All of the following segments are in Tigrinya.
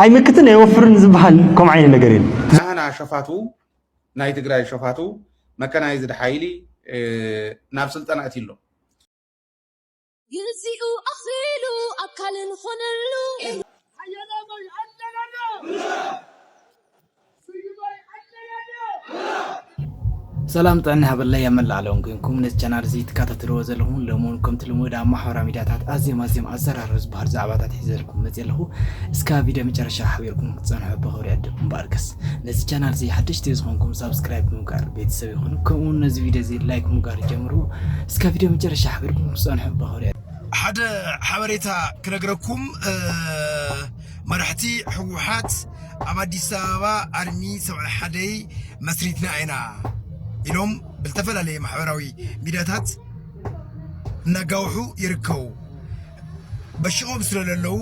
ኣይምክትን ኣይወፍርን ዝብሃል ከምኡ ዓይነት ነገር የለን። ናህና ሸፋቱ ናይ ትግራይ ሸፋቱ መከናይዝድ ሓይሊ ናብ ስልጠና ኣእትዩ'ሎ። ግዚኡ ኣኽሊሉ ኣካልን ኾነሉ። ሰላም ጥዕና ይሃበለይ ኣብ መላእ ዓለም ኮይንኩም ነዚ ቻናል እዚ ትከታተልዎ ዘለኹም ሎሚ እውን ከምቲ ልሙድ ኣብ ማሕበራዊ ሚድያታት ኣዝዮም ኣዝዮም ኣዘራርብ ዝበሃሉ ዛዕባታት ሒዘልኩም መፅየ ኣለኹ እስካ ቪድዮ መጨረሻ ሓቢርኩም ክትፀንሑ ብኽብሪ ዕድም እምበኣርከስ ነዚ ቻናል እዚ ሓደሽቲ ዝኾንኩም ሳብስክራይብ ብምግባር ቤተሰብ ይኹኑ ከምኡ እውን ነዚ ቪድዮ እዚ ላይክ ምግባር ጀምሩ እስካ ቪድዮ መጨረሻ ሓቢርኩም ክትፀንሑ ብኽብሪ ሓደ ሓበሬታ ክነግረኩም መራሕቲ ህወሓት ኣብ ኣዲስ ኣበባ ኣርሚ ሰብዓ ሓደይ መስሪትና ኢና ኢሎም ብዝተፈላለየ ማሕበራዊ ሚድያታት እናጋውሑ ይርከቡ። በሽቆም ስለለለዉ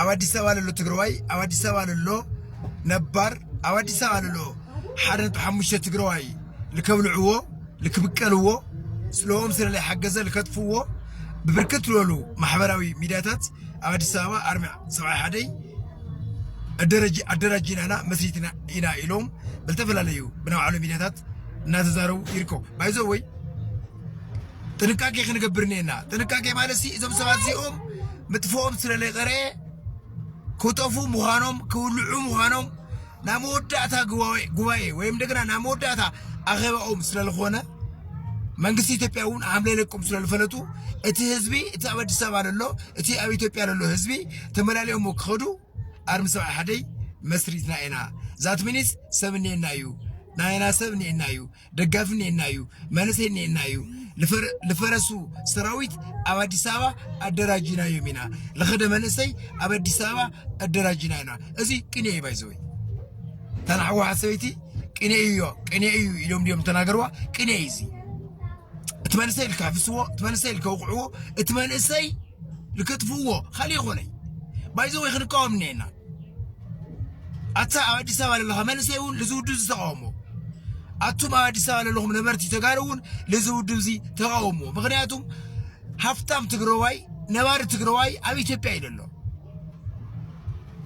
ኣብ ኣዲስ ኣበባ ለሎ ትግራዋይ ኣብ ኣዲስ ኣበባ ለሎ ነባር ኣብ ኣዲስ ኣበባ ለሎ ሓደ ነጥቢ ሓሙሽተ ትግራዋይ ልከብልዕዎ ልክብቀልዎ ስለኦም ስለለ ሓገዘ ልከጥፍዎ ብብርክት ዝበሉ ማሕበራዊ ሚድያታት ኣብ ኣዲስ ኣበባ ኣርሚ ሰብዓ ሓደይ ኣደራጂናና መስሪትና ኢና ኢሎም ብዝተፈላለዩ ብናይ ባዕሎም ሚዲያታት እናተዛረቡ ይርከቡ ባይዞ ወይ ጥንቃቄ ክንገብር ኔና ጥንቃቄ ማለት ሲ እዞም ሰባት እዚኦም ምጥፍኦም ስለለይቀረ ክጠፉ ምዃኖም ክውልዑ ምዃኖም ናብ መወዳእታ ጉባኤ ወይም ደግና ናብ መወዳእታ ኣኼባኦም ስለዝኾነ መንግስቲ ኢትዮጵያ እውን ሓምለ ለቁም ስለዝፈለጡ እቲ ህዝቢ እቲ ኣብ ኣዲስ ኣበባ ዘሎ እቲ ኣብ ኢትዮጵያ ዘሎ ህዝቢ ተመላልኦም ክኸዱ ኣርሚ ሰብዓ ሓደይ መስሪትና ኢና ዛት ሚኒስ ሰብ እኒኤና እዩ ናይና ሰብ እኒኤና እዩ ደጋፊ እኒኤና እዩ፣ መንእሰይ እኒኤና እዩ፣ ልፈረሱ ሰራዊት ኣብ ኣዲስ ኣበባ ኣደራጅናዮም ኢና፣ ልኸደ መንእሰይ ኣብ ኣዲስ ኣበባ ኣደራጅና ኢና። እዚ ቅኔ እዩ ባይዘወይ ተናዕዋ ሰበይቲ ቅኔ እዩ ቅኔ እዩ ኢሎም ድዮም ተናገርዋ ቅኔ እዩ እዚ እቲ መንእሰይ ልካሕፍስዎ እቲ መንእሰይ ልከውቅዕዎ እቲ መንእሰይ ልከጥፍዎ ካልእ ይኾነይ ባይዘወይ ክንቃወም እኒኤና ኣታ ኣብ ኣዲስ ኣበባ ዘለኻ መንእሰይ እውን ልዚ ውድብ እዚ ተቃውሞ ኣቱም ኣብ ኣዲስ ኣበባ ዘለኹም ነበርቲ ተጋሩ እውን ልዚ ውድብ እዚ ተቃውሞ ምክንያቱም ሃፍታም ትግራዋይ ነባሪ ትግራዋይ ኣብ ኢትዮጵያ እዩ ዘሎ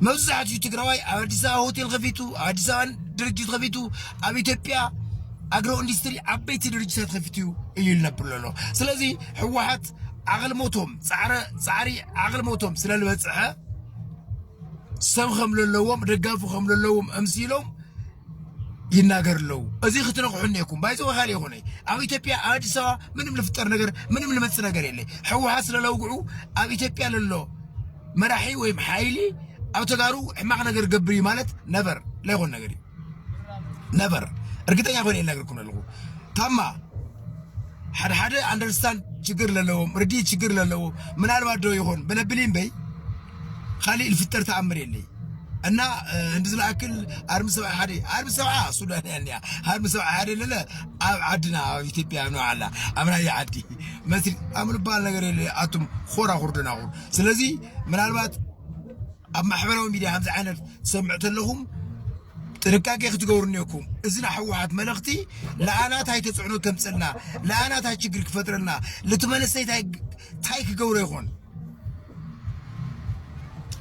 መብዛሕትኡ ትግራዋይ ኣብ ኣዲስ ኣበባ ሆቴል ከፊቱ ኣብ ኣዲስ ኣበባ ድርጅት ከፊቱ ኣብ ኢትዮጵያ ኣግሮ ኢንዱስትሪ ዓበይቲ ድርጅታት ከፊቱ እዩ ዝነብር ዘሎ ስለዚ ህወሓት ዓቕልሞቶም ፃዕሪ ዓቕልሞቶም ስለ ዝበፅሐ ሰብ ከም ዘለዎም ደጋፊ ከም ዘለዎም ኣምሲሎም ይናገር ኣለዉ እዚ ክትነቕሑ እኔኩም ባይዘወ ካልእ ይኹነ ኣብ ኢትዮጵያ ኣብ ኣዲስ ኣበባ ምንም ልፍጠር ነገር ምንም ልመፅእ ነገር የለ ሕወሓት ስለለውግዑ ኣብ ኢትዮጵያ ለሎ መራሒ ወይም ሓይሊ ኣብ ተጋሩ ሕማቕ ነገር ገብር እዩ ማለት ነበር ለይኮን ነገር እዩ ነበር እርግጠኛ ኮይነ ይነግርኩም ኣለኹ ታማ ሓደ ሓደ ኣንደርስታንድ ችግር ዘለዎም ርዲ ችግር ዘለዎ ምናልባት ዶ ይኾን ብነብሊ እምበይ ካሊእ ልፍጠር ተኣምር የለይ እና እንዲ ዝለኣክል ኣርሚ ሰብዓ ሓደ ኣርሚ ሰብዓ ሱዳን እያ እኒኣ ኣርሚ ሰብዓ ሓደ ለለ ኣብ ዓድና ኣብ ኢትዮጵያ ኖ ኣላ ኣብ ናይ ዓዲ መስሪ ኣም ዝበሃል ነገር የለ ኣቱም ኾራ ኩርድናኹር ስለዚ ምናልባት ኣብ ማሕበራዊ ሚድያ ከምዚ ዓይነት ትሰምዑ ተለኹም ጥንቃቄ ክትገብሩ እኔኩም። እዚ ናይ ሕወሓት መልእኽቲ ለኣና ታይ ተፅዕኖ ተምፀልና፣ ለኣና ታይ ችግር ክፈጥረልና፣ ልቲ መንእሰይ ታይ ክገብሮ ይኾን?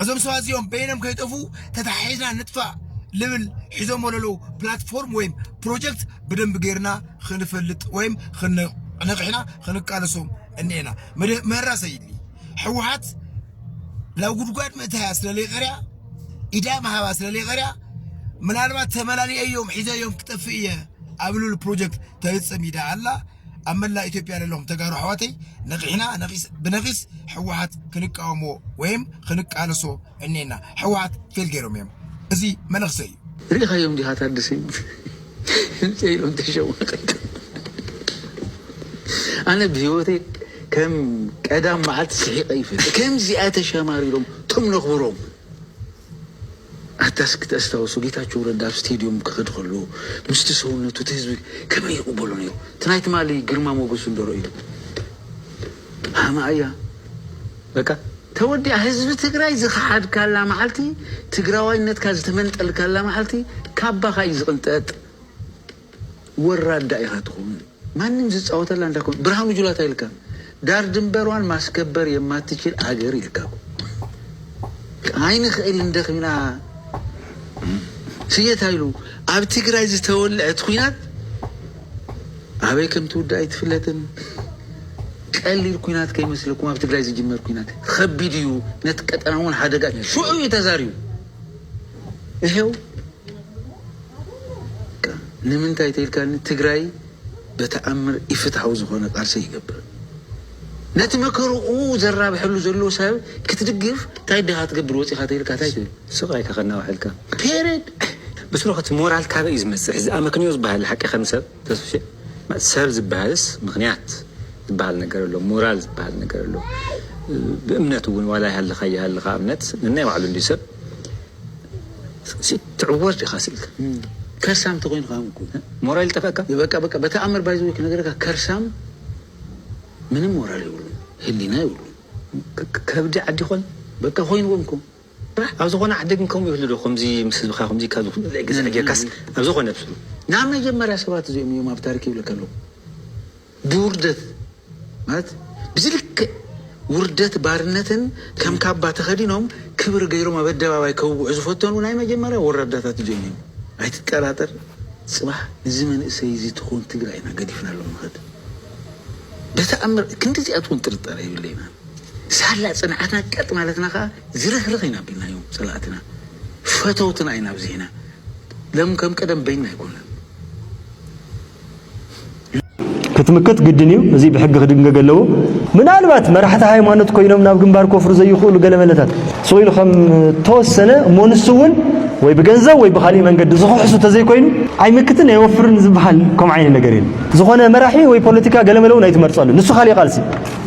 እዞም ሰባት እዚኦም በይኖም ከይጠፉ ተተሓሒዝና ንጥፋእ ልብል ሒዞሞ ለለው ፕላትፎርም ወይም ፕሮጀክት ብደንብ ገይርና ክንፈልጥ ወይም ንቕሕና ክንቃለሶም እኒኤና መራ ሰይድሊ ሕወሓት ናብ ጉድጓድ ምእታያ ስለ ዘይቀርያ ኢዳ ምሃባ ስለ ዘይቀርያ ምናልባት ተመላሊአዮም ሒዘዮም ክጠፍእ እየ ኣብ ልሉ ፕሮጀክት ተፍፅም ኢዳ ኣላ ኣብ መላእ ኢትዮጵያ ዘለኹም ተጋሩ ኣሕዋተይ ነቂሕና ነቂስ ብነቂስ ሕወሓት ክንቃወሞ ወይም ክንቃለሶ እኔና ሕወሓት ፌል ገይሮም እዮም እዚ መነክሰ እዩ ርኢኻዮም ዲኻ ታድሰ ድምፂ ኢሎም ተሸማቒሎም ኣነ ብሂወተይ ከም ቀዳም መዓልቲ ስሒቐ ይፈልጥ ከምዚኣ ተሸማሪሮም ቶም ነኽብሮም ኣታስ ክተስታውሱ ጌታቸው ረዳ ኣብ ስቴድዮም ክኸድ ከሎ ምስቲ ሰውነቱ እቲ ህዝቢ ከመይ ይቕበሎ ነይሩ እቲ ናይ ትማሊ ግርማ ሞገሱ እንደረእዩ ሃማኣያ በቃ ተወዲኣ ህዝቢ ትግራይ ዝኸሓድካላ መዓልቲ ትግራዋይነትካ ዝተመንጠልካላ መዓልቲ ካባኻ እዩ ዝቕንጠጥ ወራዳ ኢኻ ትኸውን ማንም ዝፃወተላ እንዳኮን ብርሃኑ ጁላ ታይ ኢልካ ዳር ድንበሯን ማስከበር የማትችል ኣገር ኢልካ ኣይንኽእል እንደኺና ስየ ታይ ኢሉ ኣብ ትግራይ ዝተወልዐ እቲ ኹናት ኣበይ ከም ትውዳእ ኣይትፍለጥን ቀሊል ኩናት ከይመስለኩም ኣብ ትግራይ ዝጅመር ኩናት ኸቢድ እዩ ነቲ ቀጠና እውን ሓደጋ እዩ ሽዑ እዩ ተዛሪቡ እሄው ንምንታይ ተይልካኒ ትግራይ በተኣምር ኢፍትሓዊ ዝኾነ ቃልሲ ኣይገብርን ነቲ መከርኡ ዘራብሐሉ ዘሎ ሰብ ክትድግፍ እንታይ ድኻ ትገብር ወፂኻ ተይልካ እንታይ ትብል ስቓይካ ከናውሐልካ ፔሬድ ብስሩ ሞራል ካበይ እዩ ዝመፅእ ሕዚ ኣመክንዮ ዝበሃል ሓቂ ከም ሰብ ተስፍሽ ሰብ ዝበሃልስ ምኽንያት ዝበሃል ነገር ኣሎ ሞራል ዝበሃል ነገር ኣሎ ብእምነት እውን ዋላ ይሃልኻ ኣይሃልኻ እምነት ነናይ ባዕሉ እንድዩ ሰብ ትዕወት ዲኻ ስኢልካ ከርሳም ተኾይንኻ እኮ ሞራል ይጠፈእካ በቃ በቃ በተኣምር ባይዘወይ ክነግረካ ከርሳም ምንም ሞራል የብሉን ህሊና የብሉን ከብዲ ዓዲ ኾን በቃ ኾይንዎም እኮ ባህ ኣብ ዝኮነ ዓዲ ግን ከምኡ ይህሉ ዶ ከምዚ ምስ ህዝብካ ከምዚ ኢልካ ዝኩሉ ዘይ ግዛእ ጌርካስ ኣብ ዝኮነ ትብሉ ናይ መጀመርያ ሰባት እዚኦም እዮም ኣብ ታሪክ ይብለካ ኣለኩ ብውርደት ማለት ብዚ ልክዕ ውርደት ባርነትን ከም ካባ ተከዲኖም ክብሪ ገይሮም ኣብ ኣደባባይ ከውግዑ ዝፈተኑ ናይ መጀመርያ ወራዳታት እዚኦም እዮም ኣይትጠራጠር ጽባሕ ንዚ መንእሰይ እዚ ትኮን ትግራይ ኢና ገዲፍናሎም ንከድ ብተኣምር ክንዲ እዚኣት ውን ጥርጣረ የብለይናን። ሳላ ጽንዓትና ቀጥ ማለትና ከኣ ዝርህርህ ኢና ኣቢልናዮም ጸላእትና ፈተውትና ኢና ኣብዚሕና ለም ከም ቀደም በይንና ኣይኮናን። ክትምክት ግድን እዩ እዚ ብሕጊ ክድንገግ ኣለዎ። ምናልባት መራሕቲ ሃይማኖት ኮይኖም ናብ ግንባር ኮፍሩ ዘይኽእሉ ገለመለታት ስቕ ኢሉ ከም ተወሰነ እሞ ንሱ እውን ወይ ብገንዘብ ወይ ብኻሊእ መንገዲ ዝኽሕሱ ተዘይኮይኑ ኣይምክትን ኣይወፍርን ዝበሃል ከምኡ ዓይነት ነገር የለን። ዝኾነ መራሒ ወይ ፖለቲካ ገለመለ እውን ኣይትመርጸሉ ንሱ ካሊእ ቃልሲ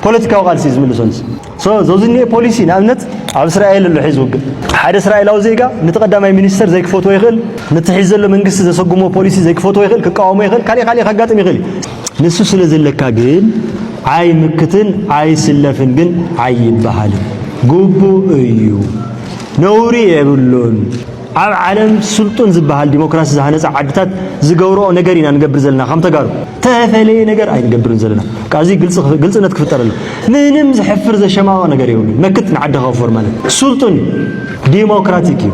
ፖለቲካዊ ቃልሲ ዝምልሶንስ so ዞዚ ዝኒኤ ፖሊሲ ንኣብነት ኣብ እስራኤል ኣሎ ሒዚ ውግእ ሓደ እስራኤላዊ ዜጋ ነቲ ቀዳማይ ሚኒስተር ዘይክፈትዎ ይኽእል ነቲ ሒዚ ዘሎ መንግስቲ ዘሰጉሞ ፖሊሲ ዘይክፈትዎ ይኽእል ክቃወሞ ይኽእል ካልእ ካልእ ከጋጥም ይኽእል እዩ ንሱ ስለ ዘለካ ግን ኣይምክትን ኣይስለፍን ግን ኣይበሃልን ግቡእ እዩ ነውሪ የብሉን ኣብ ዓለም ስልጡን ዝበሃል ዲሞክራሲ ዝሃነጻ ዓድታት ዝገብርኦ ነገር ኢና ንገብር ዘለና ከም ተጋሩ ተፈለየ ነገር ኣይንገብርን ዘለና ካብ እዚ ግልጽ ግልጽነት ክፍጠር ኣሎ ምንም ዝሕፍር ዘሸማቕቕ ነገር የብሉን መክት ንዓዲ ከወፍር ማለት ስልጡን እዩ ዲሞክራቲክ እዩ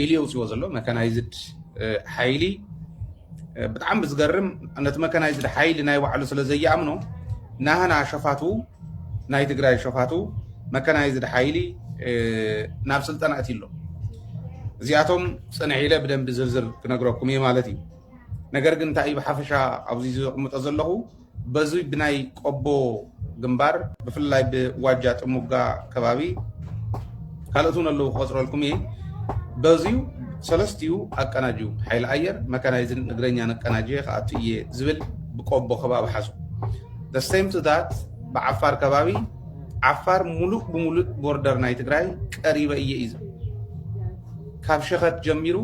ኢሉ የውፅዎ ዘሎ መካናይዝድ ሓይሊ ብጣዕሚ ብዝገርም ነቲ መካናይዝድ ሓይሊ ናይ ባዕሉ ስለ ዘየኣምኖ ናህና ሸፋቱ ናይ ትግራይ ሸፋቱ መካናይዝድ ሓይሊ ናብ ስልጠና እቲ ኣሎ እዚኣቶም ፅንሕ ኢለ ብደንቢ ዝርዝር ክነግረኩም እየ ማለት እዩ ነገር ግን እንታይ ብሓፈሻ ኣብዚ ዘቕምጦ ዘለኹ በዙይ ብናይ ቆቦ ግንባር ብፍላይ ብዋጃ ጥሙጋ ከባቢ ካልኦት እውን ኣለዉ ክቆፅረልኩም እየ በዙዩ ሰለስትኡ ኣቀናጅዩ ሓይሊ ኣየር መካናይዝን እግረኛ ነቀናጅየ ክኣቱ እየ ዝብል ብቆቦ ከባቢ ሓዙ ደሰይም ትታት ብዓፋር ከባቢ ዓፋር ሙሉእ ብሙሉእ ቦርደር ናይ ትግራይ ቀሪበ እየ እዩ ዝብል ካብ ሸኸት ጀሚሩ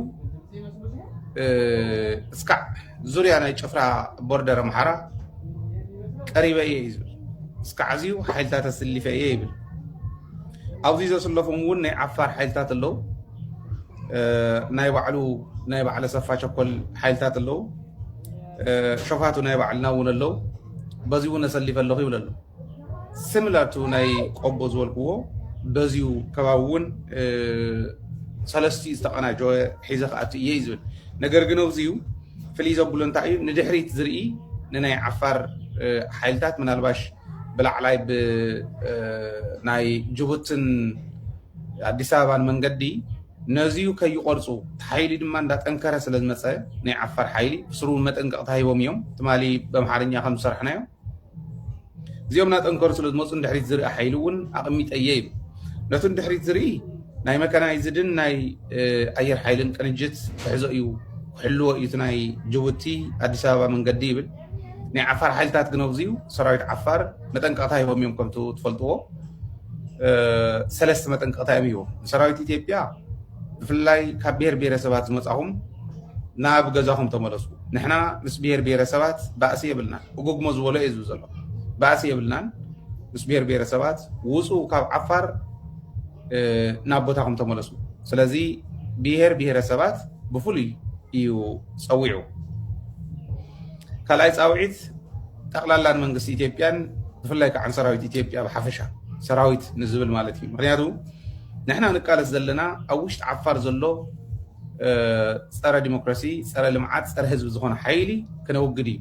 እስካዕ ዙርያ ናይ ጭፍራ ቦርደር ኣምሓራ ቀሪበ እየ እዩ ዝብል እስካዕ ኣዝዩ ሓይልታት ኣስሊፈ እየ ይብል ኣብዚ ዘስለፎም እውን ናይ ዓፋር ሓይልታት ኣለዉ ናይ ባዕሉ ናይ ባዕለ ሰፋ ቸኮል ሓይልታት ኣለዉ ሸፋቱ ናይ ባዕልና እውን ኣለዉ በዚ እውን ኣሰሊፈ ኣለኹ ይብል ኣሎ Similar to ናይ ቆቦ ዝበልክዎ በዚዩ ከባቢ እውን ሰለስቲ ዝተቀናጀወ ሒዘ ክኣቱ እየ እዩ ዝብል ነገር ግን ኣብዚዩ ፍልይ ዘብሎ እንታይ እዩ ንድሕሪት ዝርኢ ንናይ ዓፋር ሓይልታት ምናልባሽ ብላዕላይ ብናይ ጅቡትን ኣዲስ ኣበባን መንገዲ ነዚዩ ከይቆርፁ እቲ ሓይሊ ድማ እንዳጠንከረ ስለ ዝመፀ ናይ ዓፋር ሓይሊ ብስሩ መጠንቀቕታ ሂቦም እዮም ትማሊ በምሓርኛ ከም ዝሰራሕናዮ እዚኦም ናጠንከሩ ስለ ዝመፁ ንድሕሪት ዝርኢ ሓይሊ እውን ኣቐሚጠ እየ ይብል ነቲ ንድሕሪት ዝርኢ ናይ መካናይዝድን ናይ ኣየር ሓይልን ቅንጅት ክሕዞ እዩ ክሕልዎ እዩ እቲ ናይ ጅቡቲ ኣዲስ ኣበባ መንገዲ ይብል ናይ ዓፋር ሓይልታት ግን ኣብዚ እዩ ሰራዊት ዓፋር መጠንቀቕታ ሂቦም እዮም ከምቲ ትፈልጥዎ ሰለስተ መጠንቀቕታ እዮም ሂቦም ንሰራዊት ኢትዮጵያ ብፍላይ ካብ ብሄር ብሄረሰባት ዝመጻኹም ናብ ገዛኹም ተመለሱ። ንሕና ምስ ብሄር ብሄረሰባት ባእሲ የብልናን። እጎግሞ ዝበሎ እየ ዝብል ዘሎ ባእሲ የብልናን ምስ ብሄር ብሄረሰባት ውፁ ካብ ዓፋር ናብ ቦታኹም ተመለሱ። ስለዚ ብሄር ብሄረሰባት ብፍሉይ እዩ ፀዊዑ። ካልኣይ ፃውዒት ጠቕላላ ንመንግስቲ ኢትዮጵያን ብፍላይ ከዓ ሰራዊት ኢትዮጵያ ብሓፈሻ ሰራዊት ንዝብል ማለት እዩ ምክንያቱ ንሕና ንቃለስ ዘለና ኣብ ውሽጢ ዓፋር ዘሎ ፀረ ዲሞክራሲ፣ ፀረ ልምዓት፣ ፀረ ህዝቢ ዝኾነ ሓይሊ ክነውግድ እዩ።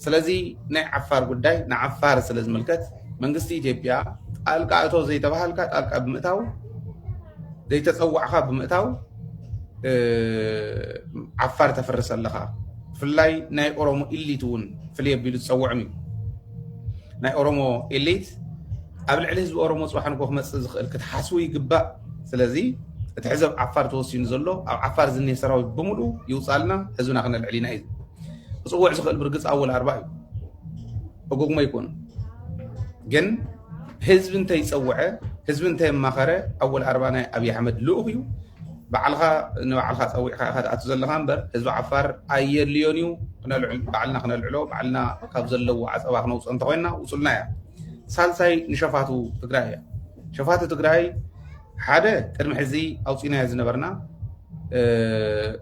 ስለዚ ናይ ዓፋር ጉዳይ ንዓፋር ስለ ዝምልከት መንግስቲ ኢትዮጵያ ጣልቃ እቶ ዘይተባሃልካ ጣልቃ ብምእታው ዘይተፀዋዕኻ ብምእታው ዓፋር ተፍርስ ኣለኻ። ብፍላይ ናይ ኦሮሞ ኢሊት እውን ፍልይ ኣቢሉ ዝፀውዕም እዩ። ናይ ኦሮሞ ኤሊት ኣብ ልዕሊ ህዝቢ ኦሮሞ ፅባሕ ንጎ ክመፅእ ዝኽእል ክትሓስቡ ይግባእ ስለዚ እቲ ሕዘብ ዓፋር ተወሲኑ ዘሎ ኣብ ዓፋር ዝኒህ ሰራዊት ብምሉ ይውፃልና ህዝብና ክነልዕል ኢና እዩ ክፅውዕ ዝኽእል ብርግፅ ኣወል ኣርባ እዩ እጉግሞ ይኮኑ ግን ህዝቢ እንተይፀውዐ ህዝቢ እንተየማኸረ ኣወል ኣርባ ናይ ኣብዪ ኣሕመድ ልኡኽ እዩ ባዕልኻ ንባዕልኻ ጸዊዕካ ኢኻ ትኣቱ ዘለኻ እምበር ህዝቢ ዓፋር ኣየድልዮን እዩ ባዕልና ክነልዕሎ ባዕልና ካብ ዘለዎ ዓፀባ ክነውፅኦ እንተኮይንና ውሱልና እያ ሳልሳይ ንሸፋቱ ትግራይ እያ ሸፋቱ ትግራይ ሓደ ቅድሚ ሕዚ ኣውፂናዮ ዝነበርና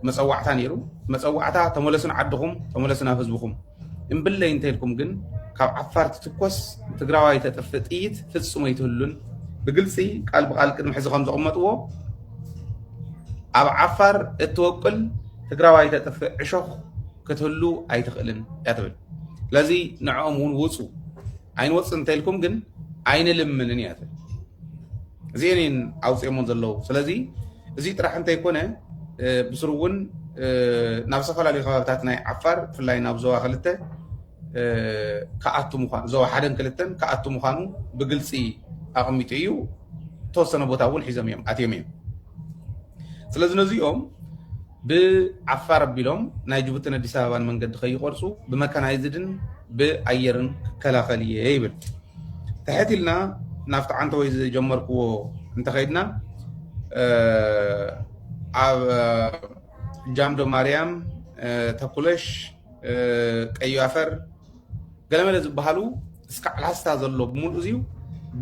መፀዋዕታ ነይሩ መፀዋዕታ ተመለሱ ንዓድኹም ተመለሱ ናብ ህዝብኹም እምብለይ እንተልኩም ግን ካብ ዓፋር ትትኮስ ትግራዋይ ተጥፍእ ጥይት ፍጹም ኣይትህሉን ብግልፂ ቃል ብቃል ቅድሚ ሕዚ ከም ዘቐመጥዎ ኣብ ዓፋር እትወቅል ትግራዋይ ተጥፍእ ዕሾኽ ክትህሉ ኣይትኽእልን እያ ትብል ስለዚ ንዕኦም እውን ውፁ ኣይንወፅ እንተልኩም ግን ኣይንልምንን እያ ትብል እዚኤን እየን ኣውፂኦሞ ዘለዉ ስለዚ እዚ ጥራሕ እንተይኮነ ብስሩ እውን ናብ ዝተፈላለዩ ከባቢታት ናይ ዓፋር ብፍላይ ናብ ዞባ ክልተ ክኣቱ ምኳኑ ዞባ ሓደን ክልተን ክኣቱ ምኳኑ ብግልፂ ኣቐሚጡ እዩ ተወሰነ ቦታ እውን ሒዞም እዮም ኣትዮም እዮም ስለዚ ነዚኦም ብዓፋር ኣቢሎም ናይ ጅቡቲን ኣዲስ ኣበባን መንገዲ ከይቖርፁ ብመካናይዝድን ብኣየርን ክከላኸል እየ ይብል። ትሕት ኢልና ናብቲ ዓንተወይ ዝጀመርክዎ እንተኸይድና ኣብ ጃምዶ ማርያም፣ ተኩለሽ፣ ቀዩ ኣፈር ገለመለ ዝበሃሉ እስካዕ ላስታ ዘሎ ብምሉእ እዚዩ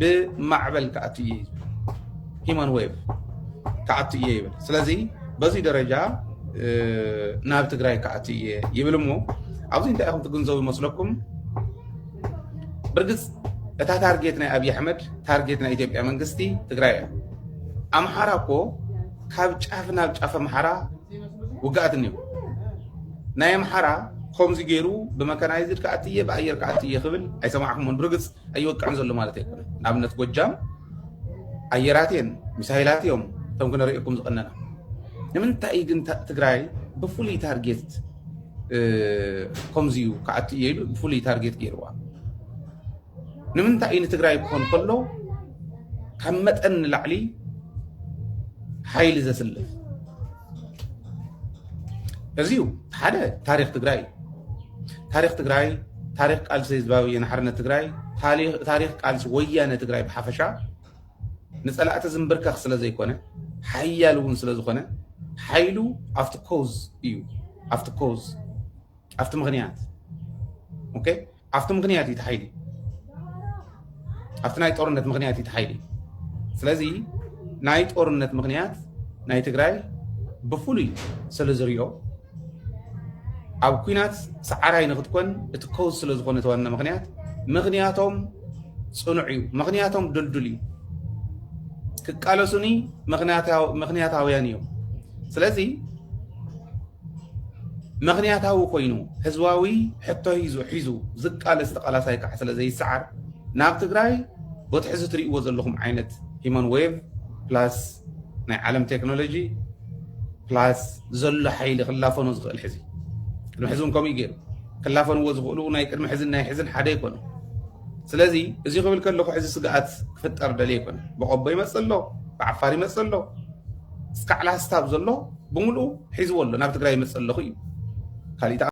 ብማዕበል ክኣቱ እየ ሂማን ዌብ ክኣቱ እየ ይብል ስለዚ በዚ ደረጃ ናብ ትግራይ ክኣቱ እየ ይብል እሞ ኣብዚ እንታይ ኢኹም ትግንዘቡ ይመስለኩም ብርግፅ እታ ታርጌት ናይ ኣብዪ ኣሕመድ ታርጌት ናይ ኢትዮጵያ መንግስቲ ትግራይ እያ ኣምሓራ እኮ ካብ ጫፍ ናብ ጫፍ ኣምሓራ ውግኣት እኒኦ ናይ ኣምሓራ ኮምዚ ገይሩ ብመካናይዝድ ክኣቲ እየ ብኣየር ክኣቲ እየ ክብል ኣይሰማዕኩሞን ብርግፅ ኣይወቅዕን ዘሎ ማለት ኣይኮነን ንኣብነት ጎጃም ኣየራት እየን ሚሳይላት እዮም እቶም ክነርእየኩም ዝቐነና ንምንታይ ግን ትግራይ ብፍሉይ ታርጌት ከምዚ እዩ ክኣቲ እየ ኢሉ ብፍሉይ ታርጌት ገይርዋ ንምንታይ እዩ ንትግራይ ክኾን ከሎ ካብ መጠን ንላዕሊ ሓይሊ ዘስልፍ እዚ እዩ ሓደ ታሪክ ትግራይ ታሪክ ትግራይ ታሪክ ቃልሲ ህዝባዊ ወያነ ሓርነት ትግራይ ታሪክ ቃልሲ ወያነ ትግራይ ብሓፈሻ ንፀላእቲ ዝምብርከኽ ስለ ዘይኮነ ሓያል እውን ስለ ዝኾነ ሓይሉ ኣብቲ ኮዝ እዩ ኣብቲ ኮዝ ኣብቲ ምክንያት ኦኬ ኣብቲ ምክንያት እዩ እቲ ሓይሊ ኣብቲ ናይ ጦርነት ምክንያት እዩ እቲ ሓይሊ ስለዚ ናይ ጦርነት ምክንያት ናይ ትግራይ ብፍሉይ ስለ ዝሪኦ ኣብ ኩናት ሰዓራይ ንክትኮን እቲ ከውዝ ስለ ዝኾነ ተዋና ምክንያት ምክንያቶም ፅኑዕ እዩ ምክንያቶም ድልዱል እዩ ክቃለሱኒ ምክንያታውያን እዮም ስለዚ ምኽንያታዊ ኮይኑ ህዝባዊ ሕቶ ሂዙ ሒዙ ዝቃለስ ተቓላሳይ ከዓ ስለ ዘይሰዓር ናብ ትግራይ ቦቲ ሕዚ ትሪእዎ ዘለኹም ዓይነት ሂማን ዌቭ ፕላስ ናይ ዓለም ቴክኖሎጂ ፕላስ ዘሎ ሓይሊ ክላፈኖ ዝኽእል ሕዚ ቅድሚ ሕዚ እውን ከምኡ ገይሩ ክላፈንዎ ዝኽእሉ ናይ ቅድሚ ሕዝን ናይ ሕዝን ሓደ ኣይኮነ ስለዚ እዚ ክብል ከለኹ ሕዚ ስግኣት ክፍጠር ደልየ ኣይኮነ ብቆቦ ይመፅእ ኣሎ ብዓፋር ይመፅእ ኣሎ እስካዕ ላስታ ዘሎ ብምሉኡ ሒዝዎ ኣሎ ናብ ትግራይ ይመፅእ ኣለኩ እዩ ካሊእ